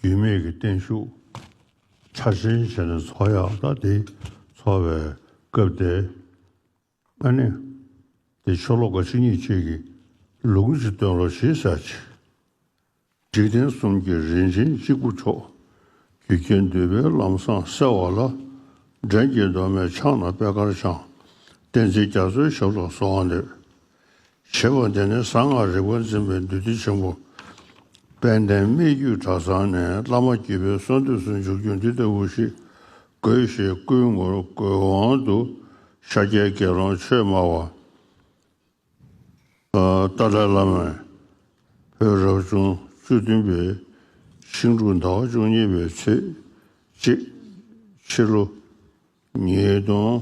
རྒྱུས་མེད་ཀྱི་བརྟན་བཞུགས་ཕྱག་ཆེན་བྱས་ནས་ཚོགས་ཡག་རྟགས་དེ་འཚོགས་པའི་སྐབས་དེ་ཨ་ནེ་དེ་ཆོ་ལོ་ག་ཅིག་གཉིས་ཆིག་གི་ལུག་གུ་ཅིག་སྟོན་ལོ་ཞེས་བྱ་ཅི། འཇིག་རྟེན་གསུམ་གྱི་རིན་ཆེན་གཅིག་པུ་མཆོག། རྒྱུ་རྐྱེན་འདུས་པའི་ལམ་བཟང་གསལ་བ་ལ། འདྲེན་བྱེད་གདོད་མའི་ཕྱག་ན་པད་དཀར་འཆང། བསྟན་འཛིན་རྒྱ་མཚོའི་ཞབས་ལ་སོགས་འདོད། ཞེས་པ་འདི་ནི་གསང་སྔགས་རིག་པ་འཛིན་པའི་འདུས་སྡེ་ཆེན་པོ་དཔལ་ལྡན་སྨད་རྒྱུད་གྲྭ་ཚང་ནས་བླ་མ་སྐྱེས་བུའི་གསང་འདུས་སུ་འཇུག་རྒྱུ་འདི་ལྟ་བུ་ཞིག་དགོས་ཞེས་བསྐུལ་ངོར་དགོས་དབང་དུ་ཤཱཀྱའི་དགེ་སློང་ཆོས་སྨྲ་བ་ཏཱ་ལའི་བླ་མས་བོད་རབ་བྱུང་བཅུ་བདུན་པའི་ཤིང་འབྲུག་ཟླ་བ་བཅུ་གཉིས་པའི་ཚེས་གཅིག་ཕྱི་ལོ་ཉིས་སྟོང་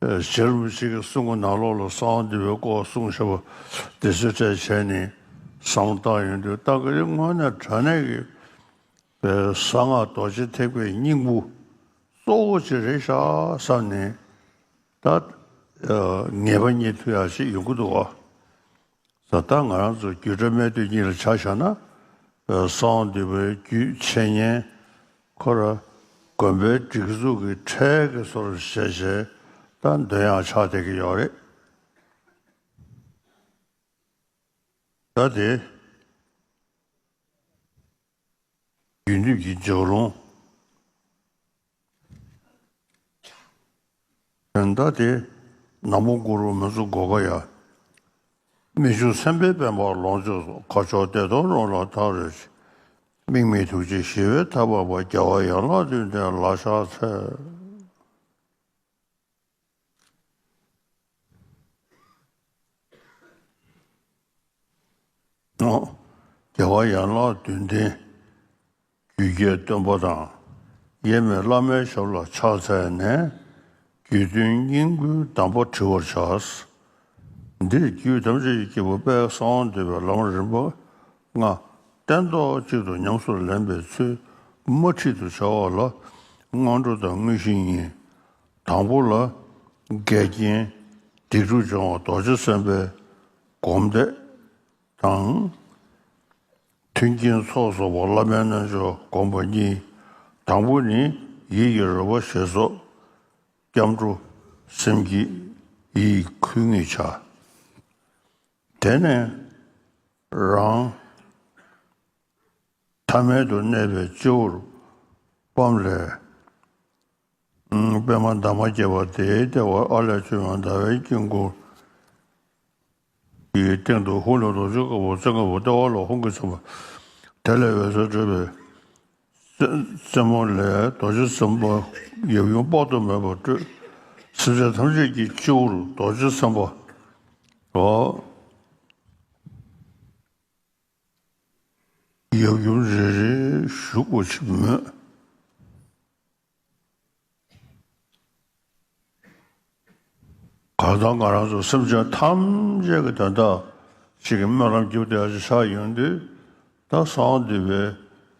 བྱེད་ལུགས་གཅིག་གིས་གསུང་གི་ནང་ལོགས་ལ་གསང་བ་འདི་བའི་སྐོར་གསུང་བྱ་བ་འདི་ཚོད་ཕྲད་བྱས་ནས་གསང་བརྟག་ཡིན་དུས་བརྟག་གི་རེད་དངོས་གནས་དྲ་གནས་ཀྱི་པའི་གསང་སྔགས་རྡོ་རྗེ་ཐེག་པའི་སྙིང་པོ་གཙོ་བོ་གཅིག་རེད་ཤག་བསམ་ནས་ད་ངེས་པ་རྙེད་ཐུབ་ཡག་ཅིག་ཡོང་གི་འདུག་བ། ད་ལྟ་ང་རང་ཚོ་རྒྱུད་གྲྭ་སྨད་སྟོད་གཉིས་ལ་ཆ་བཞག་ན་སོང་འདི་བོད་བརྒྱུད་འཆད་ཉན་ཁོ་ར་དགོན་པའི་སྒྲིག་འཛུགས་ཀྱི་གྲས་ཀྱི་སོར་བཞེས་བྱེད་ད་འདོན་ཡང་ཆགས་བསྡད་ཀྱི་ཡོད་རེད། ད་དེ། རྒྱུ་འབྲས་ཀྱི་སྦྱོར་ལུང། བདག་བདེ། ནག་པོ་གུ་རུ་མི་གཙུག་གོ་བ་ཡ། རྨད་བྱུང་སེམས་དཔའི་དཔལ་འབར་ལོངས་སྤྱོད་རྫོགས་ཁ་ཕྱོགས་བདེ་སྟོང་རོལ་ལ་ཐག་རིང་བྱེད། དམིགས་མེད་ཐུགས་རྗེ་ཞི་བའི་མཐའ་བབས་པ་རྒྱལ་བ་ཡན་ལག་བདུན་ལྡན་ལ་ཕྱག་འཚལ། རྒྱལ་བ་ཡན་ལག་བདུན་ལྡན་རྒྱུད་རྒྱལ་སྟོན་པ་དང་ཡེ་མེ་བླ་མའི་ཞབས་ལ་ཕྱག་འཚལ་ནས་རྒྱུད་དོན་སྙིང་པོའི་གདམས་པ་དྲི་བར་བྱ། འདིར་རྒྱུད་ཐམས་ཅད་ཀྱི་སྐྱེས་བུ་དཔལ་གསང་བ་འདུས་པའི་ལམ་རིམ་པ་ལྔ་སྟན་ཐོག་གཅིག་ཏུ་ཉམས་སུ་ལེན་པའི་ཚུལ་དམར་ཁྲིད་དུ་བྱ་བ་ལ་སྔ་དྲོ་དང་དངོས་གཞི་གཉིས་དང་པོ་ལ། འགལ་རྐྱེན་སྡིག་སྒྲུབ་སྦྱོང་བ་རྡོ་རྗེ་སེམས་དཔའི་སྒོམ་བཟླས་དང། མཐུན་རྐྱེན་ཚོགས་གསོག་པ་བླ་མའི་རྣལ་འབྱོར་སྒོམ་པ་གཉིས། དང་པོ་ནི་ཡིད་ཀྱི་རོལ་པ་ཞེས་སོགས་སྐྱབས་འགྲོ་སེམས་བསྐྱེད་ཡིད་འཁུལ་ངེས་བྱ། དེ་ནས་རང། ཐ་མལ་དུ་གནས་པའི་སྤྱི་བོར་སྤམ་ལས། པདྨ་འདབ་མ་བརྒྱད་པ་དེའི་ལྟེ་བར་ཨ་ལས་བཅོས་མ་ཟླ་བའི་དཀྱིལ་འཁོར་གྱི་སྟེང་དུ་ཧཱུྃ་ལས་རྡོ་རྗེ་དཀར་པོ་རྩེ་དཀར་པོ་ལྟེ་བ་ལ་ཧཱུྃ་གིས་མཚན་པ། དེ་ལས་འོད་ཟེར་སྤྲོས་པས། རྩེ་མོ་ལས་རྡོ་རྗེ་སེམས་དཔའ་ཡབ་ཡུམ་དཔག་ཏུ་མེད་པ་སྤྲོས། སེམས་ཅན་ཐམས་ཅད་ཀྱི་སྤྱི་བོར་རྡོ་རྗེ་སེམས་དཔའ། ཡབ་ཡུམ་རེ་རེ་བཞུགས་པར་བྱེད་མོད། གང་དང་གང་རང་སོགས་སེམས་ཅན་ཐམས་ཅད་ཀྱི་དོན་དག་ཅིག་གི་སྨོན་ལམ་བརྒྱུད་དེ་འཆི་ཆ་ཡོན་ཏན་ད་སང་འདུས་པའི་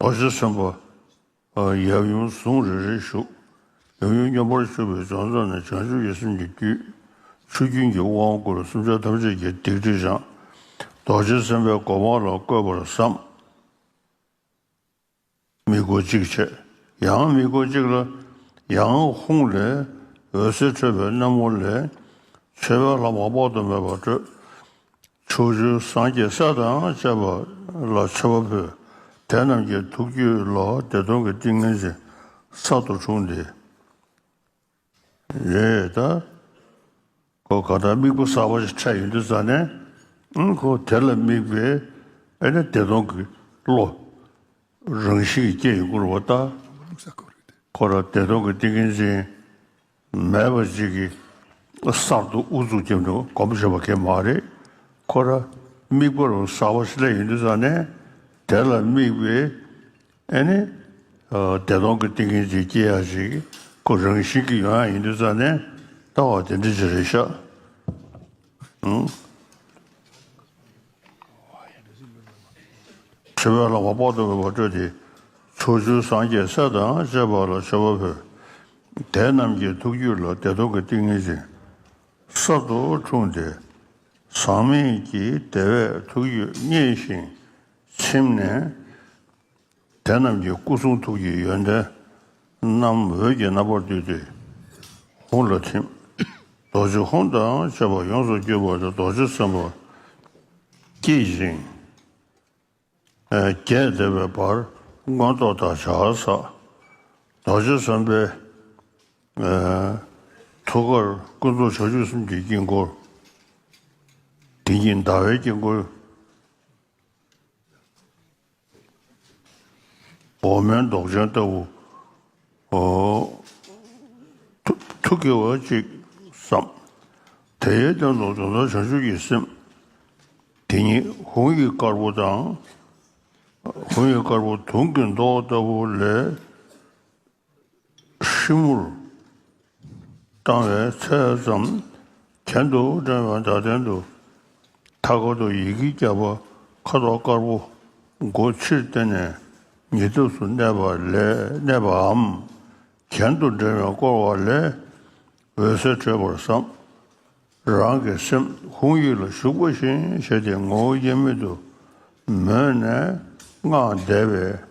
བར་ཆད་སེམས་དཔའ་ཡབ་ཡུམ་གཟུངས་རེ་རེ་བཞུགས། ཡབ་ཡུམ་སྙོམས་པར་ཞུགས་པའི་སྦྱོང་རྩ་ནི་བྱང་ཆུབ་ཀྱི་སེམས་ཀྱི་རྒྱུད། ཆུ་རྒྱུན་གྱི་དབང་བསྐུར་བ་སུམ་ཆ་ཐམས་ཅད་ཀྱི་སྡིག་སྒྲིབ་སྦྱངས། རྡོ་རྗེ་སེམས་དཔའི་གོ་འཕང་ལ་བཀོད་པར་བསམ། མིག་སྒོ་གཅིག་ཕྱེ། ཡང་མིག་སྒོ་གཅིག་ལ། ཡང་ཧཱུྃ་ལས་འོད་ཟེར་འཕྲོས་པས་རྣམ་བཀོད་ལས། མཆོད་པའི་ལྷ་མོ་དཔག་ཏུ་མེད་པ་སྤྲོས། ཁྲོ་ཆུ་ཟངས་ཀྱི་ས་དང་བཅས་པ་ལ་མཆེ་བ་ཕུལ། དེ་རྣམས་ཀྱི་ཐུགས་རྒྱུད་ལ་བདེ་སྟོང་གི་ཏིང་ངེ་འཛིན་གསར་དུ་འཁྲུངས་ཏེ། རེ་ད་གོ་ག་དང་དམིགས་པ་གསར་པ་ཞིག་འཕྲད་ཡོད་འདུག་ས་ནས་གོ་དེ་ལ་དམིགས་པའི་ཨེ་ན་བདེ་སྟོང་གི་བློ་རང་བཞིན་གྱིས་སྐྱེ་ཡོང་སྐུར་བ་བཏགས། ཁོ་རང་བདེ་སྟོང་གི་ཏིང་ངེ་འཛིན་མེད་པ་ཅིག་གིས་གསར་དུ་ཨུ་ཚུགས་ཀྱིས་འདུག་གོམས་བཞིན་པ་ཁེ་མ་རེད། ཁོ་ར་དམིགས་པ་རུ་ས་བ་སླེ་ཡིན་དུས་ས་ནས་དེ་ལ་དམིགས་པའི་ཨེ་ནི་བདེ་སྟོང་གི་ཏིང་ངེ་འཛིན་སྐྱེ་ཡ་ཞིག་གོ་རང་བཞིན་གྱིས་ཡོང་ཡ་ཡིན་དུས་ས་ནས་ལྟ་བ་དེ་འདྲ་ཅིག་རེད་ཤག། ཁྲི་པའི་ལྷག་པ་དཔག་ཏུ་མེད་པ་སྤྲོས་ཏེ། ཕྱོགས་བཅུའི་སངས་རྒྱས་སྲས་དང་བཅས་པ་ལ་མཆོད་པ་ཕུལ། དེ་རྣམས་ཀྱི་ཐུགས་རྒྱུད་ལ་བདེ་སྟོང་གི་ཏིང་ངེ་འཛིན་གསར་དུ་འཁྲུངས་ཏེ། ཟག་མེད་ཀྱི་བདེ་བས་ཐུགས་རྒྱུད་མཉེས་ཤིང་ཚིམས་ནས། དེ་རྣམས་ཀྱི་སྐུ་གསུང་ཐུགས་ཀྱི་ཡོན་ཏན་རྣམས་འོད་ཀྱི་རྣམ་པར་བསྡུས་ཏེ་ཧཱུྃ་ལ་ཐིམ། རྡོ་རྗེ་ཧཱུྃ་དང་བཅས་པ་ཡོངས་སུ་བསྐྱོད་པ་དེ་རྡོ་རྗེ་སེམས་དཔའ་བསྐྱེད་ཅིང་རྒྱས་འདེབས་པའི་བར་མགོན་ཐོག་ཐག་བྱ་བ་བསགས། རྡོ་རྗེ་སེམས་དཔའི་ཐུགས་ཀར་ཀུན་རྫོབ་ཕྱོགས་བཅུ་གསུམ་གྱི་དཀྱིལ་འཁོར། དེ་ཉིད་ཟླ་བའི་དཀྱིལ་འཁོར། འོག་མའི་མདོག་ཅན་ལྟ་བུ། ཐུགས་ཀྱི་འོད་ཅིག་བསམ། དེའི་སྟེང་དུ་དུང་ཟླ་བྱང་ཆུབ་ཀྱི་སེམས། དེ་ཉིད་ཧཱུྃ་ཡིག་དཀར་པོ་དང། ཧཱུྃ་ཡིག་དཀར་པོ་དུང་གི་མདོག་ལྟ་བུ་ལས། ཧྲིལ་བོར་བཏང་བའི་ཚད་ཙམ་གྱེན་དུ་བསྒྲེངས་པའི་མདའ་སྟེང་དུ་མཐའ་སྐོར་དུ་ཡི་གེ་བརྒྱ་པ་ཁ་དོག་དཀར་པོ་མགོ་ཕྱིར་བསྟན་ནས་ཉེ་དུས་སུ་གནས་པའམ་གྱེན་དུ་བསྒྲེངས་པའི་བསྐོར་བ་ལས་འོད་ཟེར་འཕྲོས་པར་བསམ། རང་གི་སེམས་ཧཱུྃ་ཡིག་ལ་ཞུགས་པ་བཞིན་བྱས་ཏེ་ངོ་བོ་དབྱེར་མེད་དུ་མོས་ནས་སྔགས་བཟླས་པས།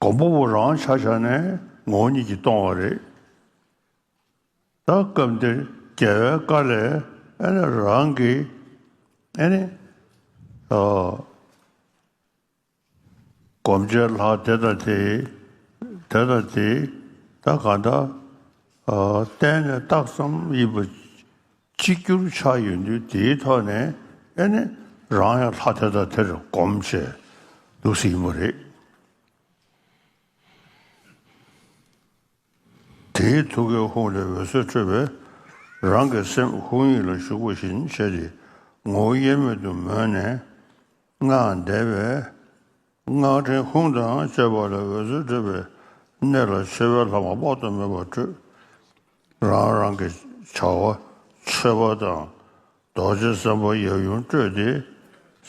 གོང་པོ་བོ་རང་ཆ་ཆ་ནས་ངོ་གཉིས་ཀྱིས་སྟོང་བ་རེད། ད་སྐབས་འདིར་རྒྱལ་བའི་བཀའ་ལས་ཨེ་ནི་རང་གི་ཨེ་ནི། སྒོམ་བྱེད་ལྷ་དེ་དང་དེ་དེ་དང་དེ་ད་ག་འདྲ་བསྟན་ནས་རྟགས་སམ་དབྱིབས་གཅིག་གྱུར་ཆགས་ཡོད་དུས་དེའི་ཐོག་ནས་ཨེ་ནི་རང་ཡང་ལྷ་དེ་དང་དེར་གོམས་བྱས་འདུག་ཟེར་གྱི་མ་རེད། དེའི་ཐུགས་ཀའི་ཧཱུྃ་ལས་འོད་ཟེར་འཕྲོས་པས་རང་གི་སེམས་ཧཱུྃ་ཡིག་ལ་ཞུགས་པ་བཞིན་བྱས་ཏེ་ངོ་བོ་དབྱེར་མེད་དུ་མོས་ནས་སྔགས་བཟླས་པས། སྔགས་ཕྲེང་ཧཱུྃ་དང་བཅས་པ་ལས་འོད་ཟེར་འཕྲོས་པས་གནས་ལ་ཆེ་བའི་ལྷག་མ་དཔག་ཏུ་མེད་པ་སྤྲོས། རང་རང་གི་བྱ་བ་ཆོད་པ་དང་རྡོ་རྗེ་སེམས་དཔའ་ཡབ་ཡུམ་སྤྲོས་ཏེ་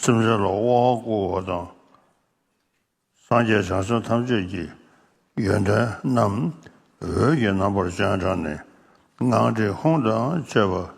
སེམས་ཅན་ལ་དབང་བསྐུར་བ་དང། སངས་རྒྱས་བྱང་སེམས་ཐམས་ཅད་ཀྱི་ཡོན་ཏན་རྣམས་འོད་ཀྱི་རྣམ་པར་སྤྱན་དྲངས་ནས་སྔགས་ཕྲེང་ཧཱུྃ་དང་བཅས་པ།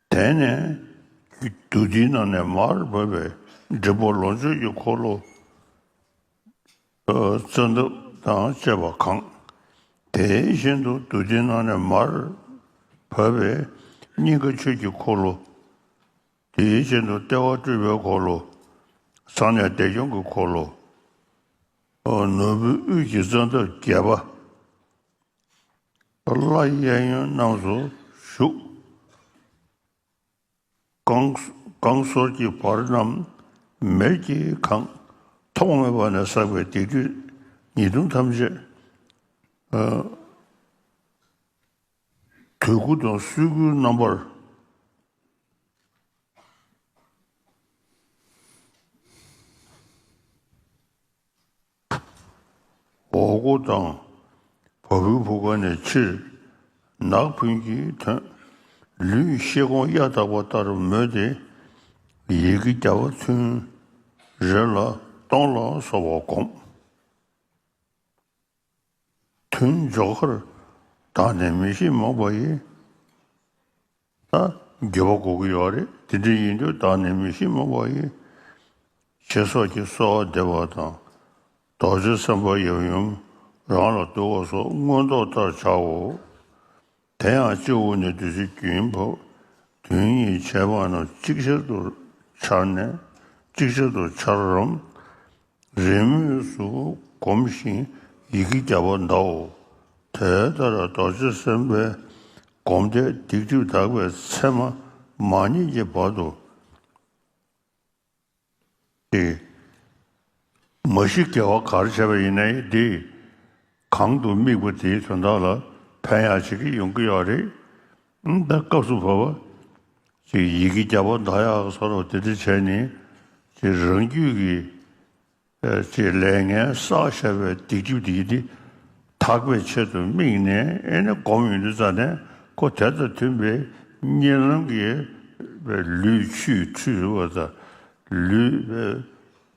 དེ་ནས་བདུད་རྩིའི་ནང་ནས་མར་བབས་པའི་འབྲས་བུ་ལོངས་སྤྱོད་ཀྱི་འཁོར་ལོ་བཙན་ཐབས་དང་བཅས་པ་གང། དེ་བཞིན་དུ་བདུད་རྩིའི་ནང་ནས་མར་བབས་པའི་སྙིང་ག་ཆོས་ཀྱི་འཁོར་ལོ། དེ་བཞིན་དུ་ལྟེ་བ་སྤྲུལ་པའི་འཁོར་ལོ། ཚངས་གནས་བདེ་སྐྱོང་གི་འཁོར་ལོ། ནོར་བུའི་དབུས་ཀྱི་བཙན་ཐབས་བརྒྱད་པ། ལ་གཡས་གཡོན་རྣམས་སུ་བཞུགས། བསྐང་གསོལ་གྱི་བར་རྣམས་མེར་གྱིས་གང། ཐོག་མེད་པ་ནས་བསགས་པའི་སྡིག་སྒྲིབ་ཉེས་ལྟུང་ཐམས་ཅད། དུས་སྐུ་དང་སྲུལ་སྐུའི་རྣམ་པར། འོག་སྒོ་དང་བ་སྤུའི་བུ་ག་ནས་ཕྱིར་ནག་ཕུན་གྱི་དོན། ལུས་ཤེལ་སྒོང་གཡའ་དག་པ་ལྟར་མོད་དེ། ཡི་གེ་བརྒྱ་པ་ཚུན་རེ་ལ་སྟོང་ལ་སོགས་པ་བསྒོམ། དུས་འཇོག་ཁར་དག་ནས་མི་ཤེས་མང་པ་ཡི། རྒྱས་པ་གོ་གི་ཡོད་རེད་དེ་འདྲ་ཡིན་དུས་བདག་ནི་མི་ཤེས་མ་གོ་ཡི། ཞེས་སོགས་ཀྱིས་གསོལ་བ་འདེབས་པ་དང། རྡོ་རྗེ་སེམས་དཔའ་ཡབ་ཡུམ་རང་ལ་བསྟོད་བ་སོགས་མངོན་རྟོགས་ལྟར་བྱའོ། དེ་ཡང་སྤྱི་བོ་ནས་བདུད་རྩི་རྒྱུན་བབས་དོན་གཉིས་བྱས་པ་རྣམས་གཅིག་ཆར་དུ་འཆར་ནས་གཅིག་ཆར་དུ་འཆར་རམ། རེས་མོས་སུ་བསྒོམ་ཞིང་ཡི་གེ་བརྒྱ་པ་བཟླའོ། དེ་ལྟར་རྡོ་རྗེ་སེམས་དཔའི་བསྒོམ་བཟླས་སྡིག་སྒྲིབ་དག་པའི་མཚན་མ་མ་རྙེད་ཀྱི་བར་དུ་སྟེ། མ་ཤི་རྒྱལ་བ་གར་བྱེད་པ་ཡིན་ནའི་དེས་གང་དུ་དམིགས་པ་དེའི་དོན་དག་ལ་ཕན་ཡང་བྱེད་ཀྱི་ཡོང་གི་ཡོད་རེད། ད་སྐབས་སུ་བབ་པ། ཅེས་ཡི་གེ་བརྒྱ་པ་ཟླ་ཡག་སོགས་ལ་དེ་འདྲ་བྱས་ནས་ཅེས་རང་རྒྱུད་ཀྱི། ཅེས་ལས་ངན་བསགས་ཞེས་པའི་སྡིག་སྒྲིབ་དེ་འདི་དག་པའི་ཆེད་དུ་དམིགས་ནས་ཨེ་ནི་སྒོམ་ཡོང་དུས་རྩ་ནས་ཁོ་དེ་དང་མཐུན་པའི་གཉེན་ལམ་གྱི་ལུས་ཆུས་ཁྲུས་བ་དང་ལུས།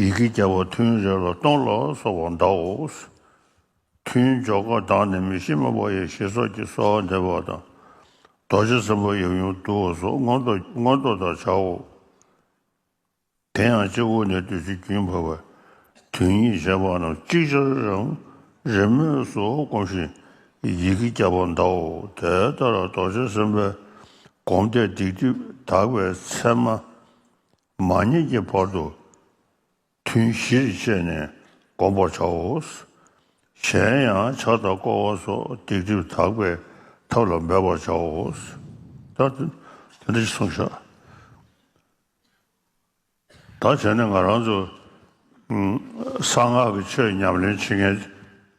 ཡི་གེ་བརྒྱ་བ་ཐུན་རེ་ལ་སྟོང་ལ་སོགས་པར་འདའོ། ཐུན་འཇོག་ཀ་དག་ནི་མི་ཤེས་མ་བ་ཡེ་ཤེས་སོགས་ཀྱི་སོ་འདེབས་པ་དང། རྡོ་རྗེ་སེམས་དཔའ་ཡབ་ཡུམ་བསྡུ་བ་སོགས་མངོན་རྟོགས་ལྟར་བྱའོ། དེ་ཡང་སྤྱི་བོ་ནས་བདུད་རྩི་རྒྱུན་བབས་པའི་དུས་ཉིད་བྱས་པ་རྣམས་ཅིག་ཅར་རང་རེ་མོས་སུ་བསྒོམ་ཞིང་ཡི་གེ་བརྒྱ་པར་འདའོ། དེ་ལྟར་རྡོ་རྗེ་སེམས་དཔའི་བསྒོམ་བཟླས་སྡིག་སྒྲིབ་དག་པའི་མཚན་མ། མ་ཉིད་ཀྱི་བར་དུ་ཐུན་བཞིར་བཅད་ནས་བསྒོམ་པར་བྱའོ། གཞན་ཡང་ཕྱག་དང་བསྐོར་བ་སོགས་སྡིག་སྒྲིབ་དག་པའི་ཐབས་ལ་འབད་པར་བྱའོ། དེ་འདྲ་བྱེད་གསུངས་ཤག། ད་བྱས་ནས་ང་རང་ཚོ་གསང་སྔགས་ཀྱི་ཆོས་ཉམས་ལེན་བྱེད་མཁན་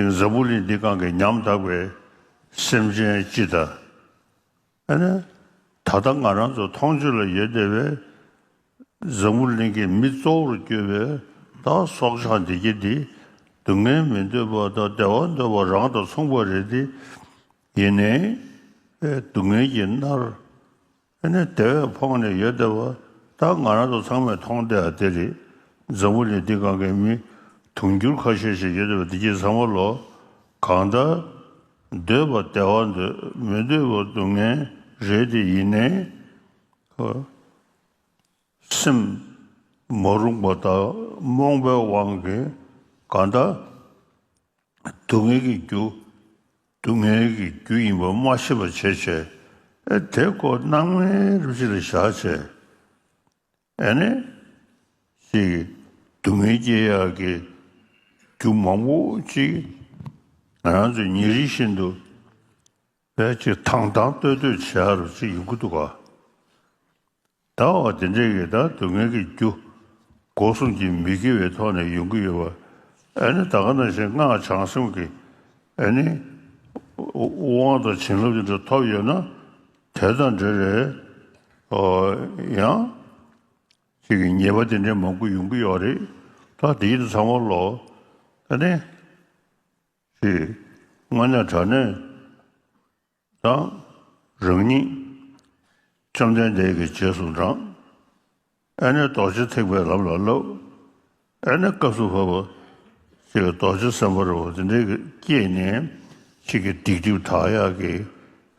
ཀྱི་འཛམ་བུ་གླིང་འདི་གང་གི་ཉམ་ཐག་པའི་སེམས་ཅན་སྤྱི་དང། ཨ་ནི། ད་ལྟ་ང་རང་ཚོ་མཐོང་ཆོས་ལ་ཡོད་བསྡད་པའི་འཛམ་བུ་གླིང་གི་མི་གཙོ་བོར་གྱུར་པའི་དག་སྲོག་ཆགས་བདེ་སྐྱིད་འདི་སྡུག་བསྔལ་མི་འདོད་པ་དང་བདེ་བ་འདོད་པ་རང་དང་མཚུངས་པ་རེད་དེ། ཡིན་ནའི། སྡུག་བསྔལ་གྱིས་མནར། ཨེ་ནས་དེ་བས་ཕོངས་ནས་ཡོད་བསྡད་པ་ད་ང་རང་ཚོ་ཚང་མས་མཐོང་བསྡད་ཨ་དེ་རེད་འཛམ་བུ་ལས་འདི་གང་གའི་མི་དུང་འགྱུར་ཁ་ཤས་ཤིག་ཡོད་བསྡད་པ་འདི་ཁྱེད་ཚང་མ་ལོ་གང་ད་སྡོད་པ་བདེ་བ་འདོད་མི་འདོད་པ་སྡུག་བསྔལ་རེད་དེ་ཡིན་ནའི་ཧོ། སེམས་མ་རུངས་པ་དག་རྨོངས་པའི་དབང་གིས་གང་ད་སྡུག་བསྔལ་གྱི་རྒྱུ། སྡུག་བསྔལ་གྱི་རྒྱུ་ཡིན་པ་མ་ཤེས་པར་བྱས་བྱས་ཨེ་དེ་ཀོ་སྣང་མེད་རིག་བྱེད་ལ་བཞག་བྱས་ཨེ་ནས་ཤེས། སྡུག་བསྔལ་སྐྱེ་ཡག་གི་རྒྱུ་མང་པོ་ཅིག་ང་རང་ཚོས་ཉིན་རེ་བཞིན་དུ་བེད་སྤྱད་དང་དང་བསྟོད་བསྟོད་བྱས་རུ་ཅིག་ཡིན་གྱི་འདུག་ག། ཟླ་བ་འདི་འདྲའི་ཡི་དྭགས་སྡུག་བསྔལ་གྱི་རྒྱུ། འགོག་སྲུང་གྱི་མི་དགེ་བའི་ཐོག་ནས་ཡོང་གི་ཡོད་པ། ཨེ་ནི་ད་ག་ན་བཞིན་སྔགས་བྱང་སེམས་ཀྱི། ཨེ་ནི། དབང་དང་བྱིན་རླབས་དེ་འདྲ་ཐོབ་ཡོད་ན། དེ་དང་འདྲེ་རེད། ཡང། ཅིག་གི་ཉེས་པ་དེ་འདྲའི་མང་པོ་ཡོང་གི་ཡོད་རེད། ད་དེའི་དུས་ཚང་མ་ལོག། ཨེ་ནི། ཞེས། སྔ་ཉག་དྲག་ནས། དང། རང་ཉིད། བཅོམ་ལྡན་འདས་ཀྱི་རྗེས་སུ་འབྲང། ཨེ་ནས་རྡོ་རྗེ་ཐེག་པའི་ལམ་ལ་བསླབ། ཨེ་ནས་སྐབས་སུ་བབ། ཅེས་རྡོ་རྗེ་སེམས་དཔའ་རོལ་བ་འདི་འདྲ་སྐྱེས་ནས། ཁྱེད་ཀྱིས་སྡིག་སྒྲིབ་དག་ཡག་གི།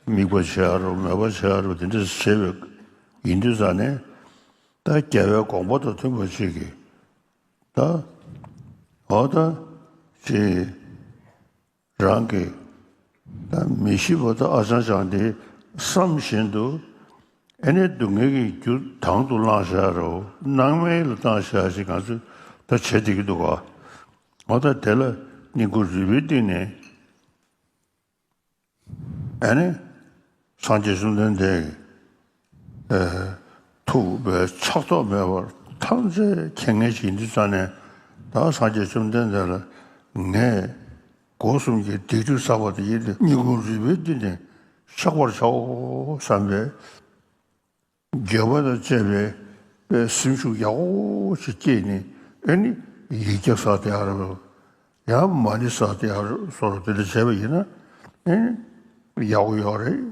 དམིགས་པ་བྱས་ཨ་རོ་མོས་པ་བྱས་ཨ་རོ་འདི་འདྲ་བྱས་པའི། ཡིན་དུས་ས་ནས། ད་རྒྱལ་བའི་དགོངས་པ་དང་མཐུན་པ་བྱེད་ཀྱི། ད། འོ་ད། ཅེས། རང་གི་མི་ཤི་བ་དང་ཨ་ཅང་ཅང་དེ་བསམ་བཞིན་དུ་ཨེ་ནས་སྡུག་བསྔལ་གྱི་རྒྱུ་དང་དུ་བླངས་ཤ་རོ་སྣང་མེད་ལ་བཏང་ཤ་ཞེས་ང་ཚོས་ད་བྱེད་བདེ་གི་འདུག་ག་འོ་ད་དེ་ལ་སྙིང་ཁུ་རུས་པའི་སྟེང་ནས་ཨེ་ནས་སངས་རྒྱས་བཅོམ་ལྡན་འདས་ཀྱི། ཐུབ་པའི་ཕྱག་རྟོགས་མེད་པར་ཐམས་ཅད་མཁྱེན་ངེས་ཀྱི་འདི་ཙམ་ནས་བདག་སངས་རྒྱས་བཅོམ་ལྡན་འདས་ལ་ངས་སྒོ་གསུམ་གྱི་སྡིག་སྒྲིབ་བསགས་པ་དེ་ཡིན་ཏེ་སྙིང་ཁུང་རུས་པའི་རྒྱུད་ནས་བཤགས་པར་བྱའོ་བསམ་པས། དགྱེས་པ་དང་བཅས་པའི་སེམས་ཤུགས་ཡག་པོ་ཞིག་སྐྱེས་ནས་ཨེ་ནི་ཡིག་བརྒྱ་བསགས་ཏེ་ཨ་རོ། ཡང་མ་ནི་བསགས་ཏེ་ཨ་རོ་སོགས་དེ་འདྲ་བྱས་པ་ཡིན་ན་ཨེ་ནི་ཡག་པོ་ཡོད་རེད།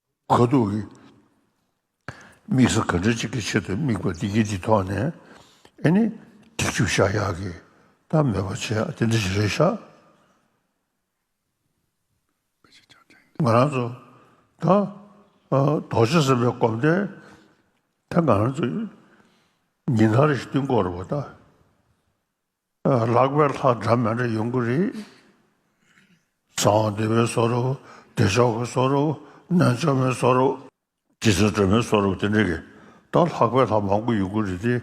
ཁོ་ཐུག་གི་དམིགས་ས་ག་འདྲ་ཅིག་གི་ཆེད་དུ་དམིགས་པ་འདི་སྐད་ཀྱི་ཐོག་ནས་ཨེ་ནི་སྒྲིག་ཆུ་བཞག་ཡག་གི་ད་མེད་པ་བྱས་ཡག་དེ་འདྲ་ཞིག་རེད་བཞག་ང་རང་ཚོ་ད་རྡོག་ཆ་ཟེར་བའི་གོམ་སྟན་ད་ང་རང་ཚོ་ཉིན་ཐ་རེ་ཞིག་བཏིང་དགོས་རེད་བ་ད། ལག་པའི་ལྷ་འདྲ་མི་འདྲ་ཡོང་གི་རེད། གསང་བ་འདི་མི་བཟོ་རོགས། བདེ་མཆོག་གི་བཟོ་རོགས། གནོད་མཆོག་མི་བཟོ་རོགས། སྤྱི་ཟུར་འདྲ་མི་བཟོ་རོགས་དེ་འདྲ་རེད། ད་ལྷག་པའི་ལྷ་མང་པོ་ཡོང་གི་རེད་དེ།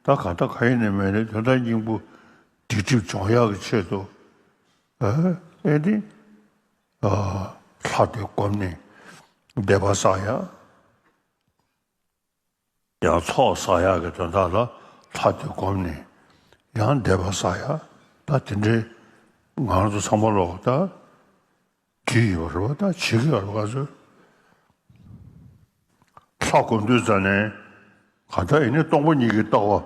ད་ག་ད་ག་ཡིན་ནི་མེད་ནི་དོན་དག་སྙིང་པོ་སྡིག་སྒྲིབ་སྦྱོང་ཡག་གི་ཆེད་དུ། ཨེ་ཏི། ལྷ་དེ་བསྒོམས་ནས་བདེ་པ་བསགས་ཡག། ཡང་ཚོགས་བསགས་ཡག་གི་དོན་དག་ལ་ལྷ་དེ་བསྒོམས་ནས་ཡང་བཟླས་པ་བསགས་ཡག་ད་དེ་འདྲའི་ངང་དུ་ཚང་མ་ལོག་ལྟ་གི་ཡོད་པ་རེད་བ་ད་བྱེད་ཀྱི་ཡོད་རེད་བ་ག་ཚོད་ལྷ་བསྒོམ་དུས་ཙང་ནས་གང་ལྟར་ཡིན་ནས་སྟོང་པ་ཉིད་ཀྱི་ལྟ་བ།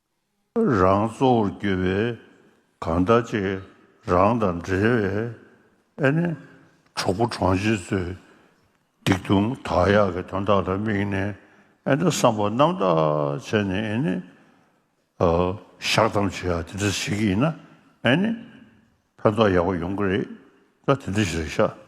རང་གཙོ་བོར་གྱུར་པའི་གང་ཟླ་གཅིག་རང་དང་འབྲེལ་བའི་ཨེ་ནི་གྲོགས་པོ་གྲོང་ཆེན་ཚོས་སྡིག་ལྟུང་དག་ཡག་གི་དོན་དག་ལ་དམིགས་ནས་ཨེ་ནི་བསམ་པ་རྣམ་དག་བྱས་ནས་ཨེ་ནི་བཤགས་བསྡམ་བྱེད་ཡག་དེ་འདྲ་བྱེད་ཀྱི་ཡིན་ན་ཨེ་ནི་ཕན་ཐོགས་ཡག་པོ་ཡོང་གི་རེད་ད་དེ་འདྲ་ཞིག་ལ་བཤགས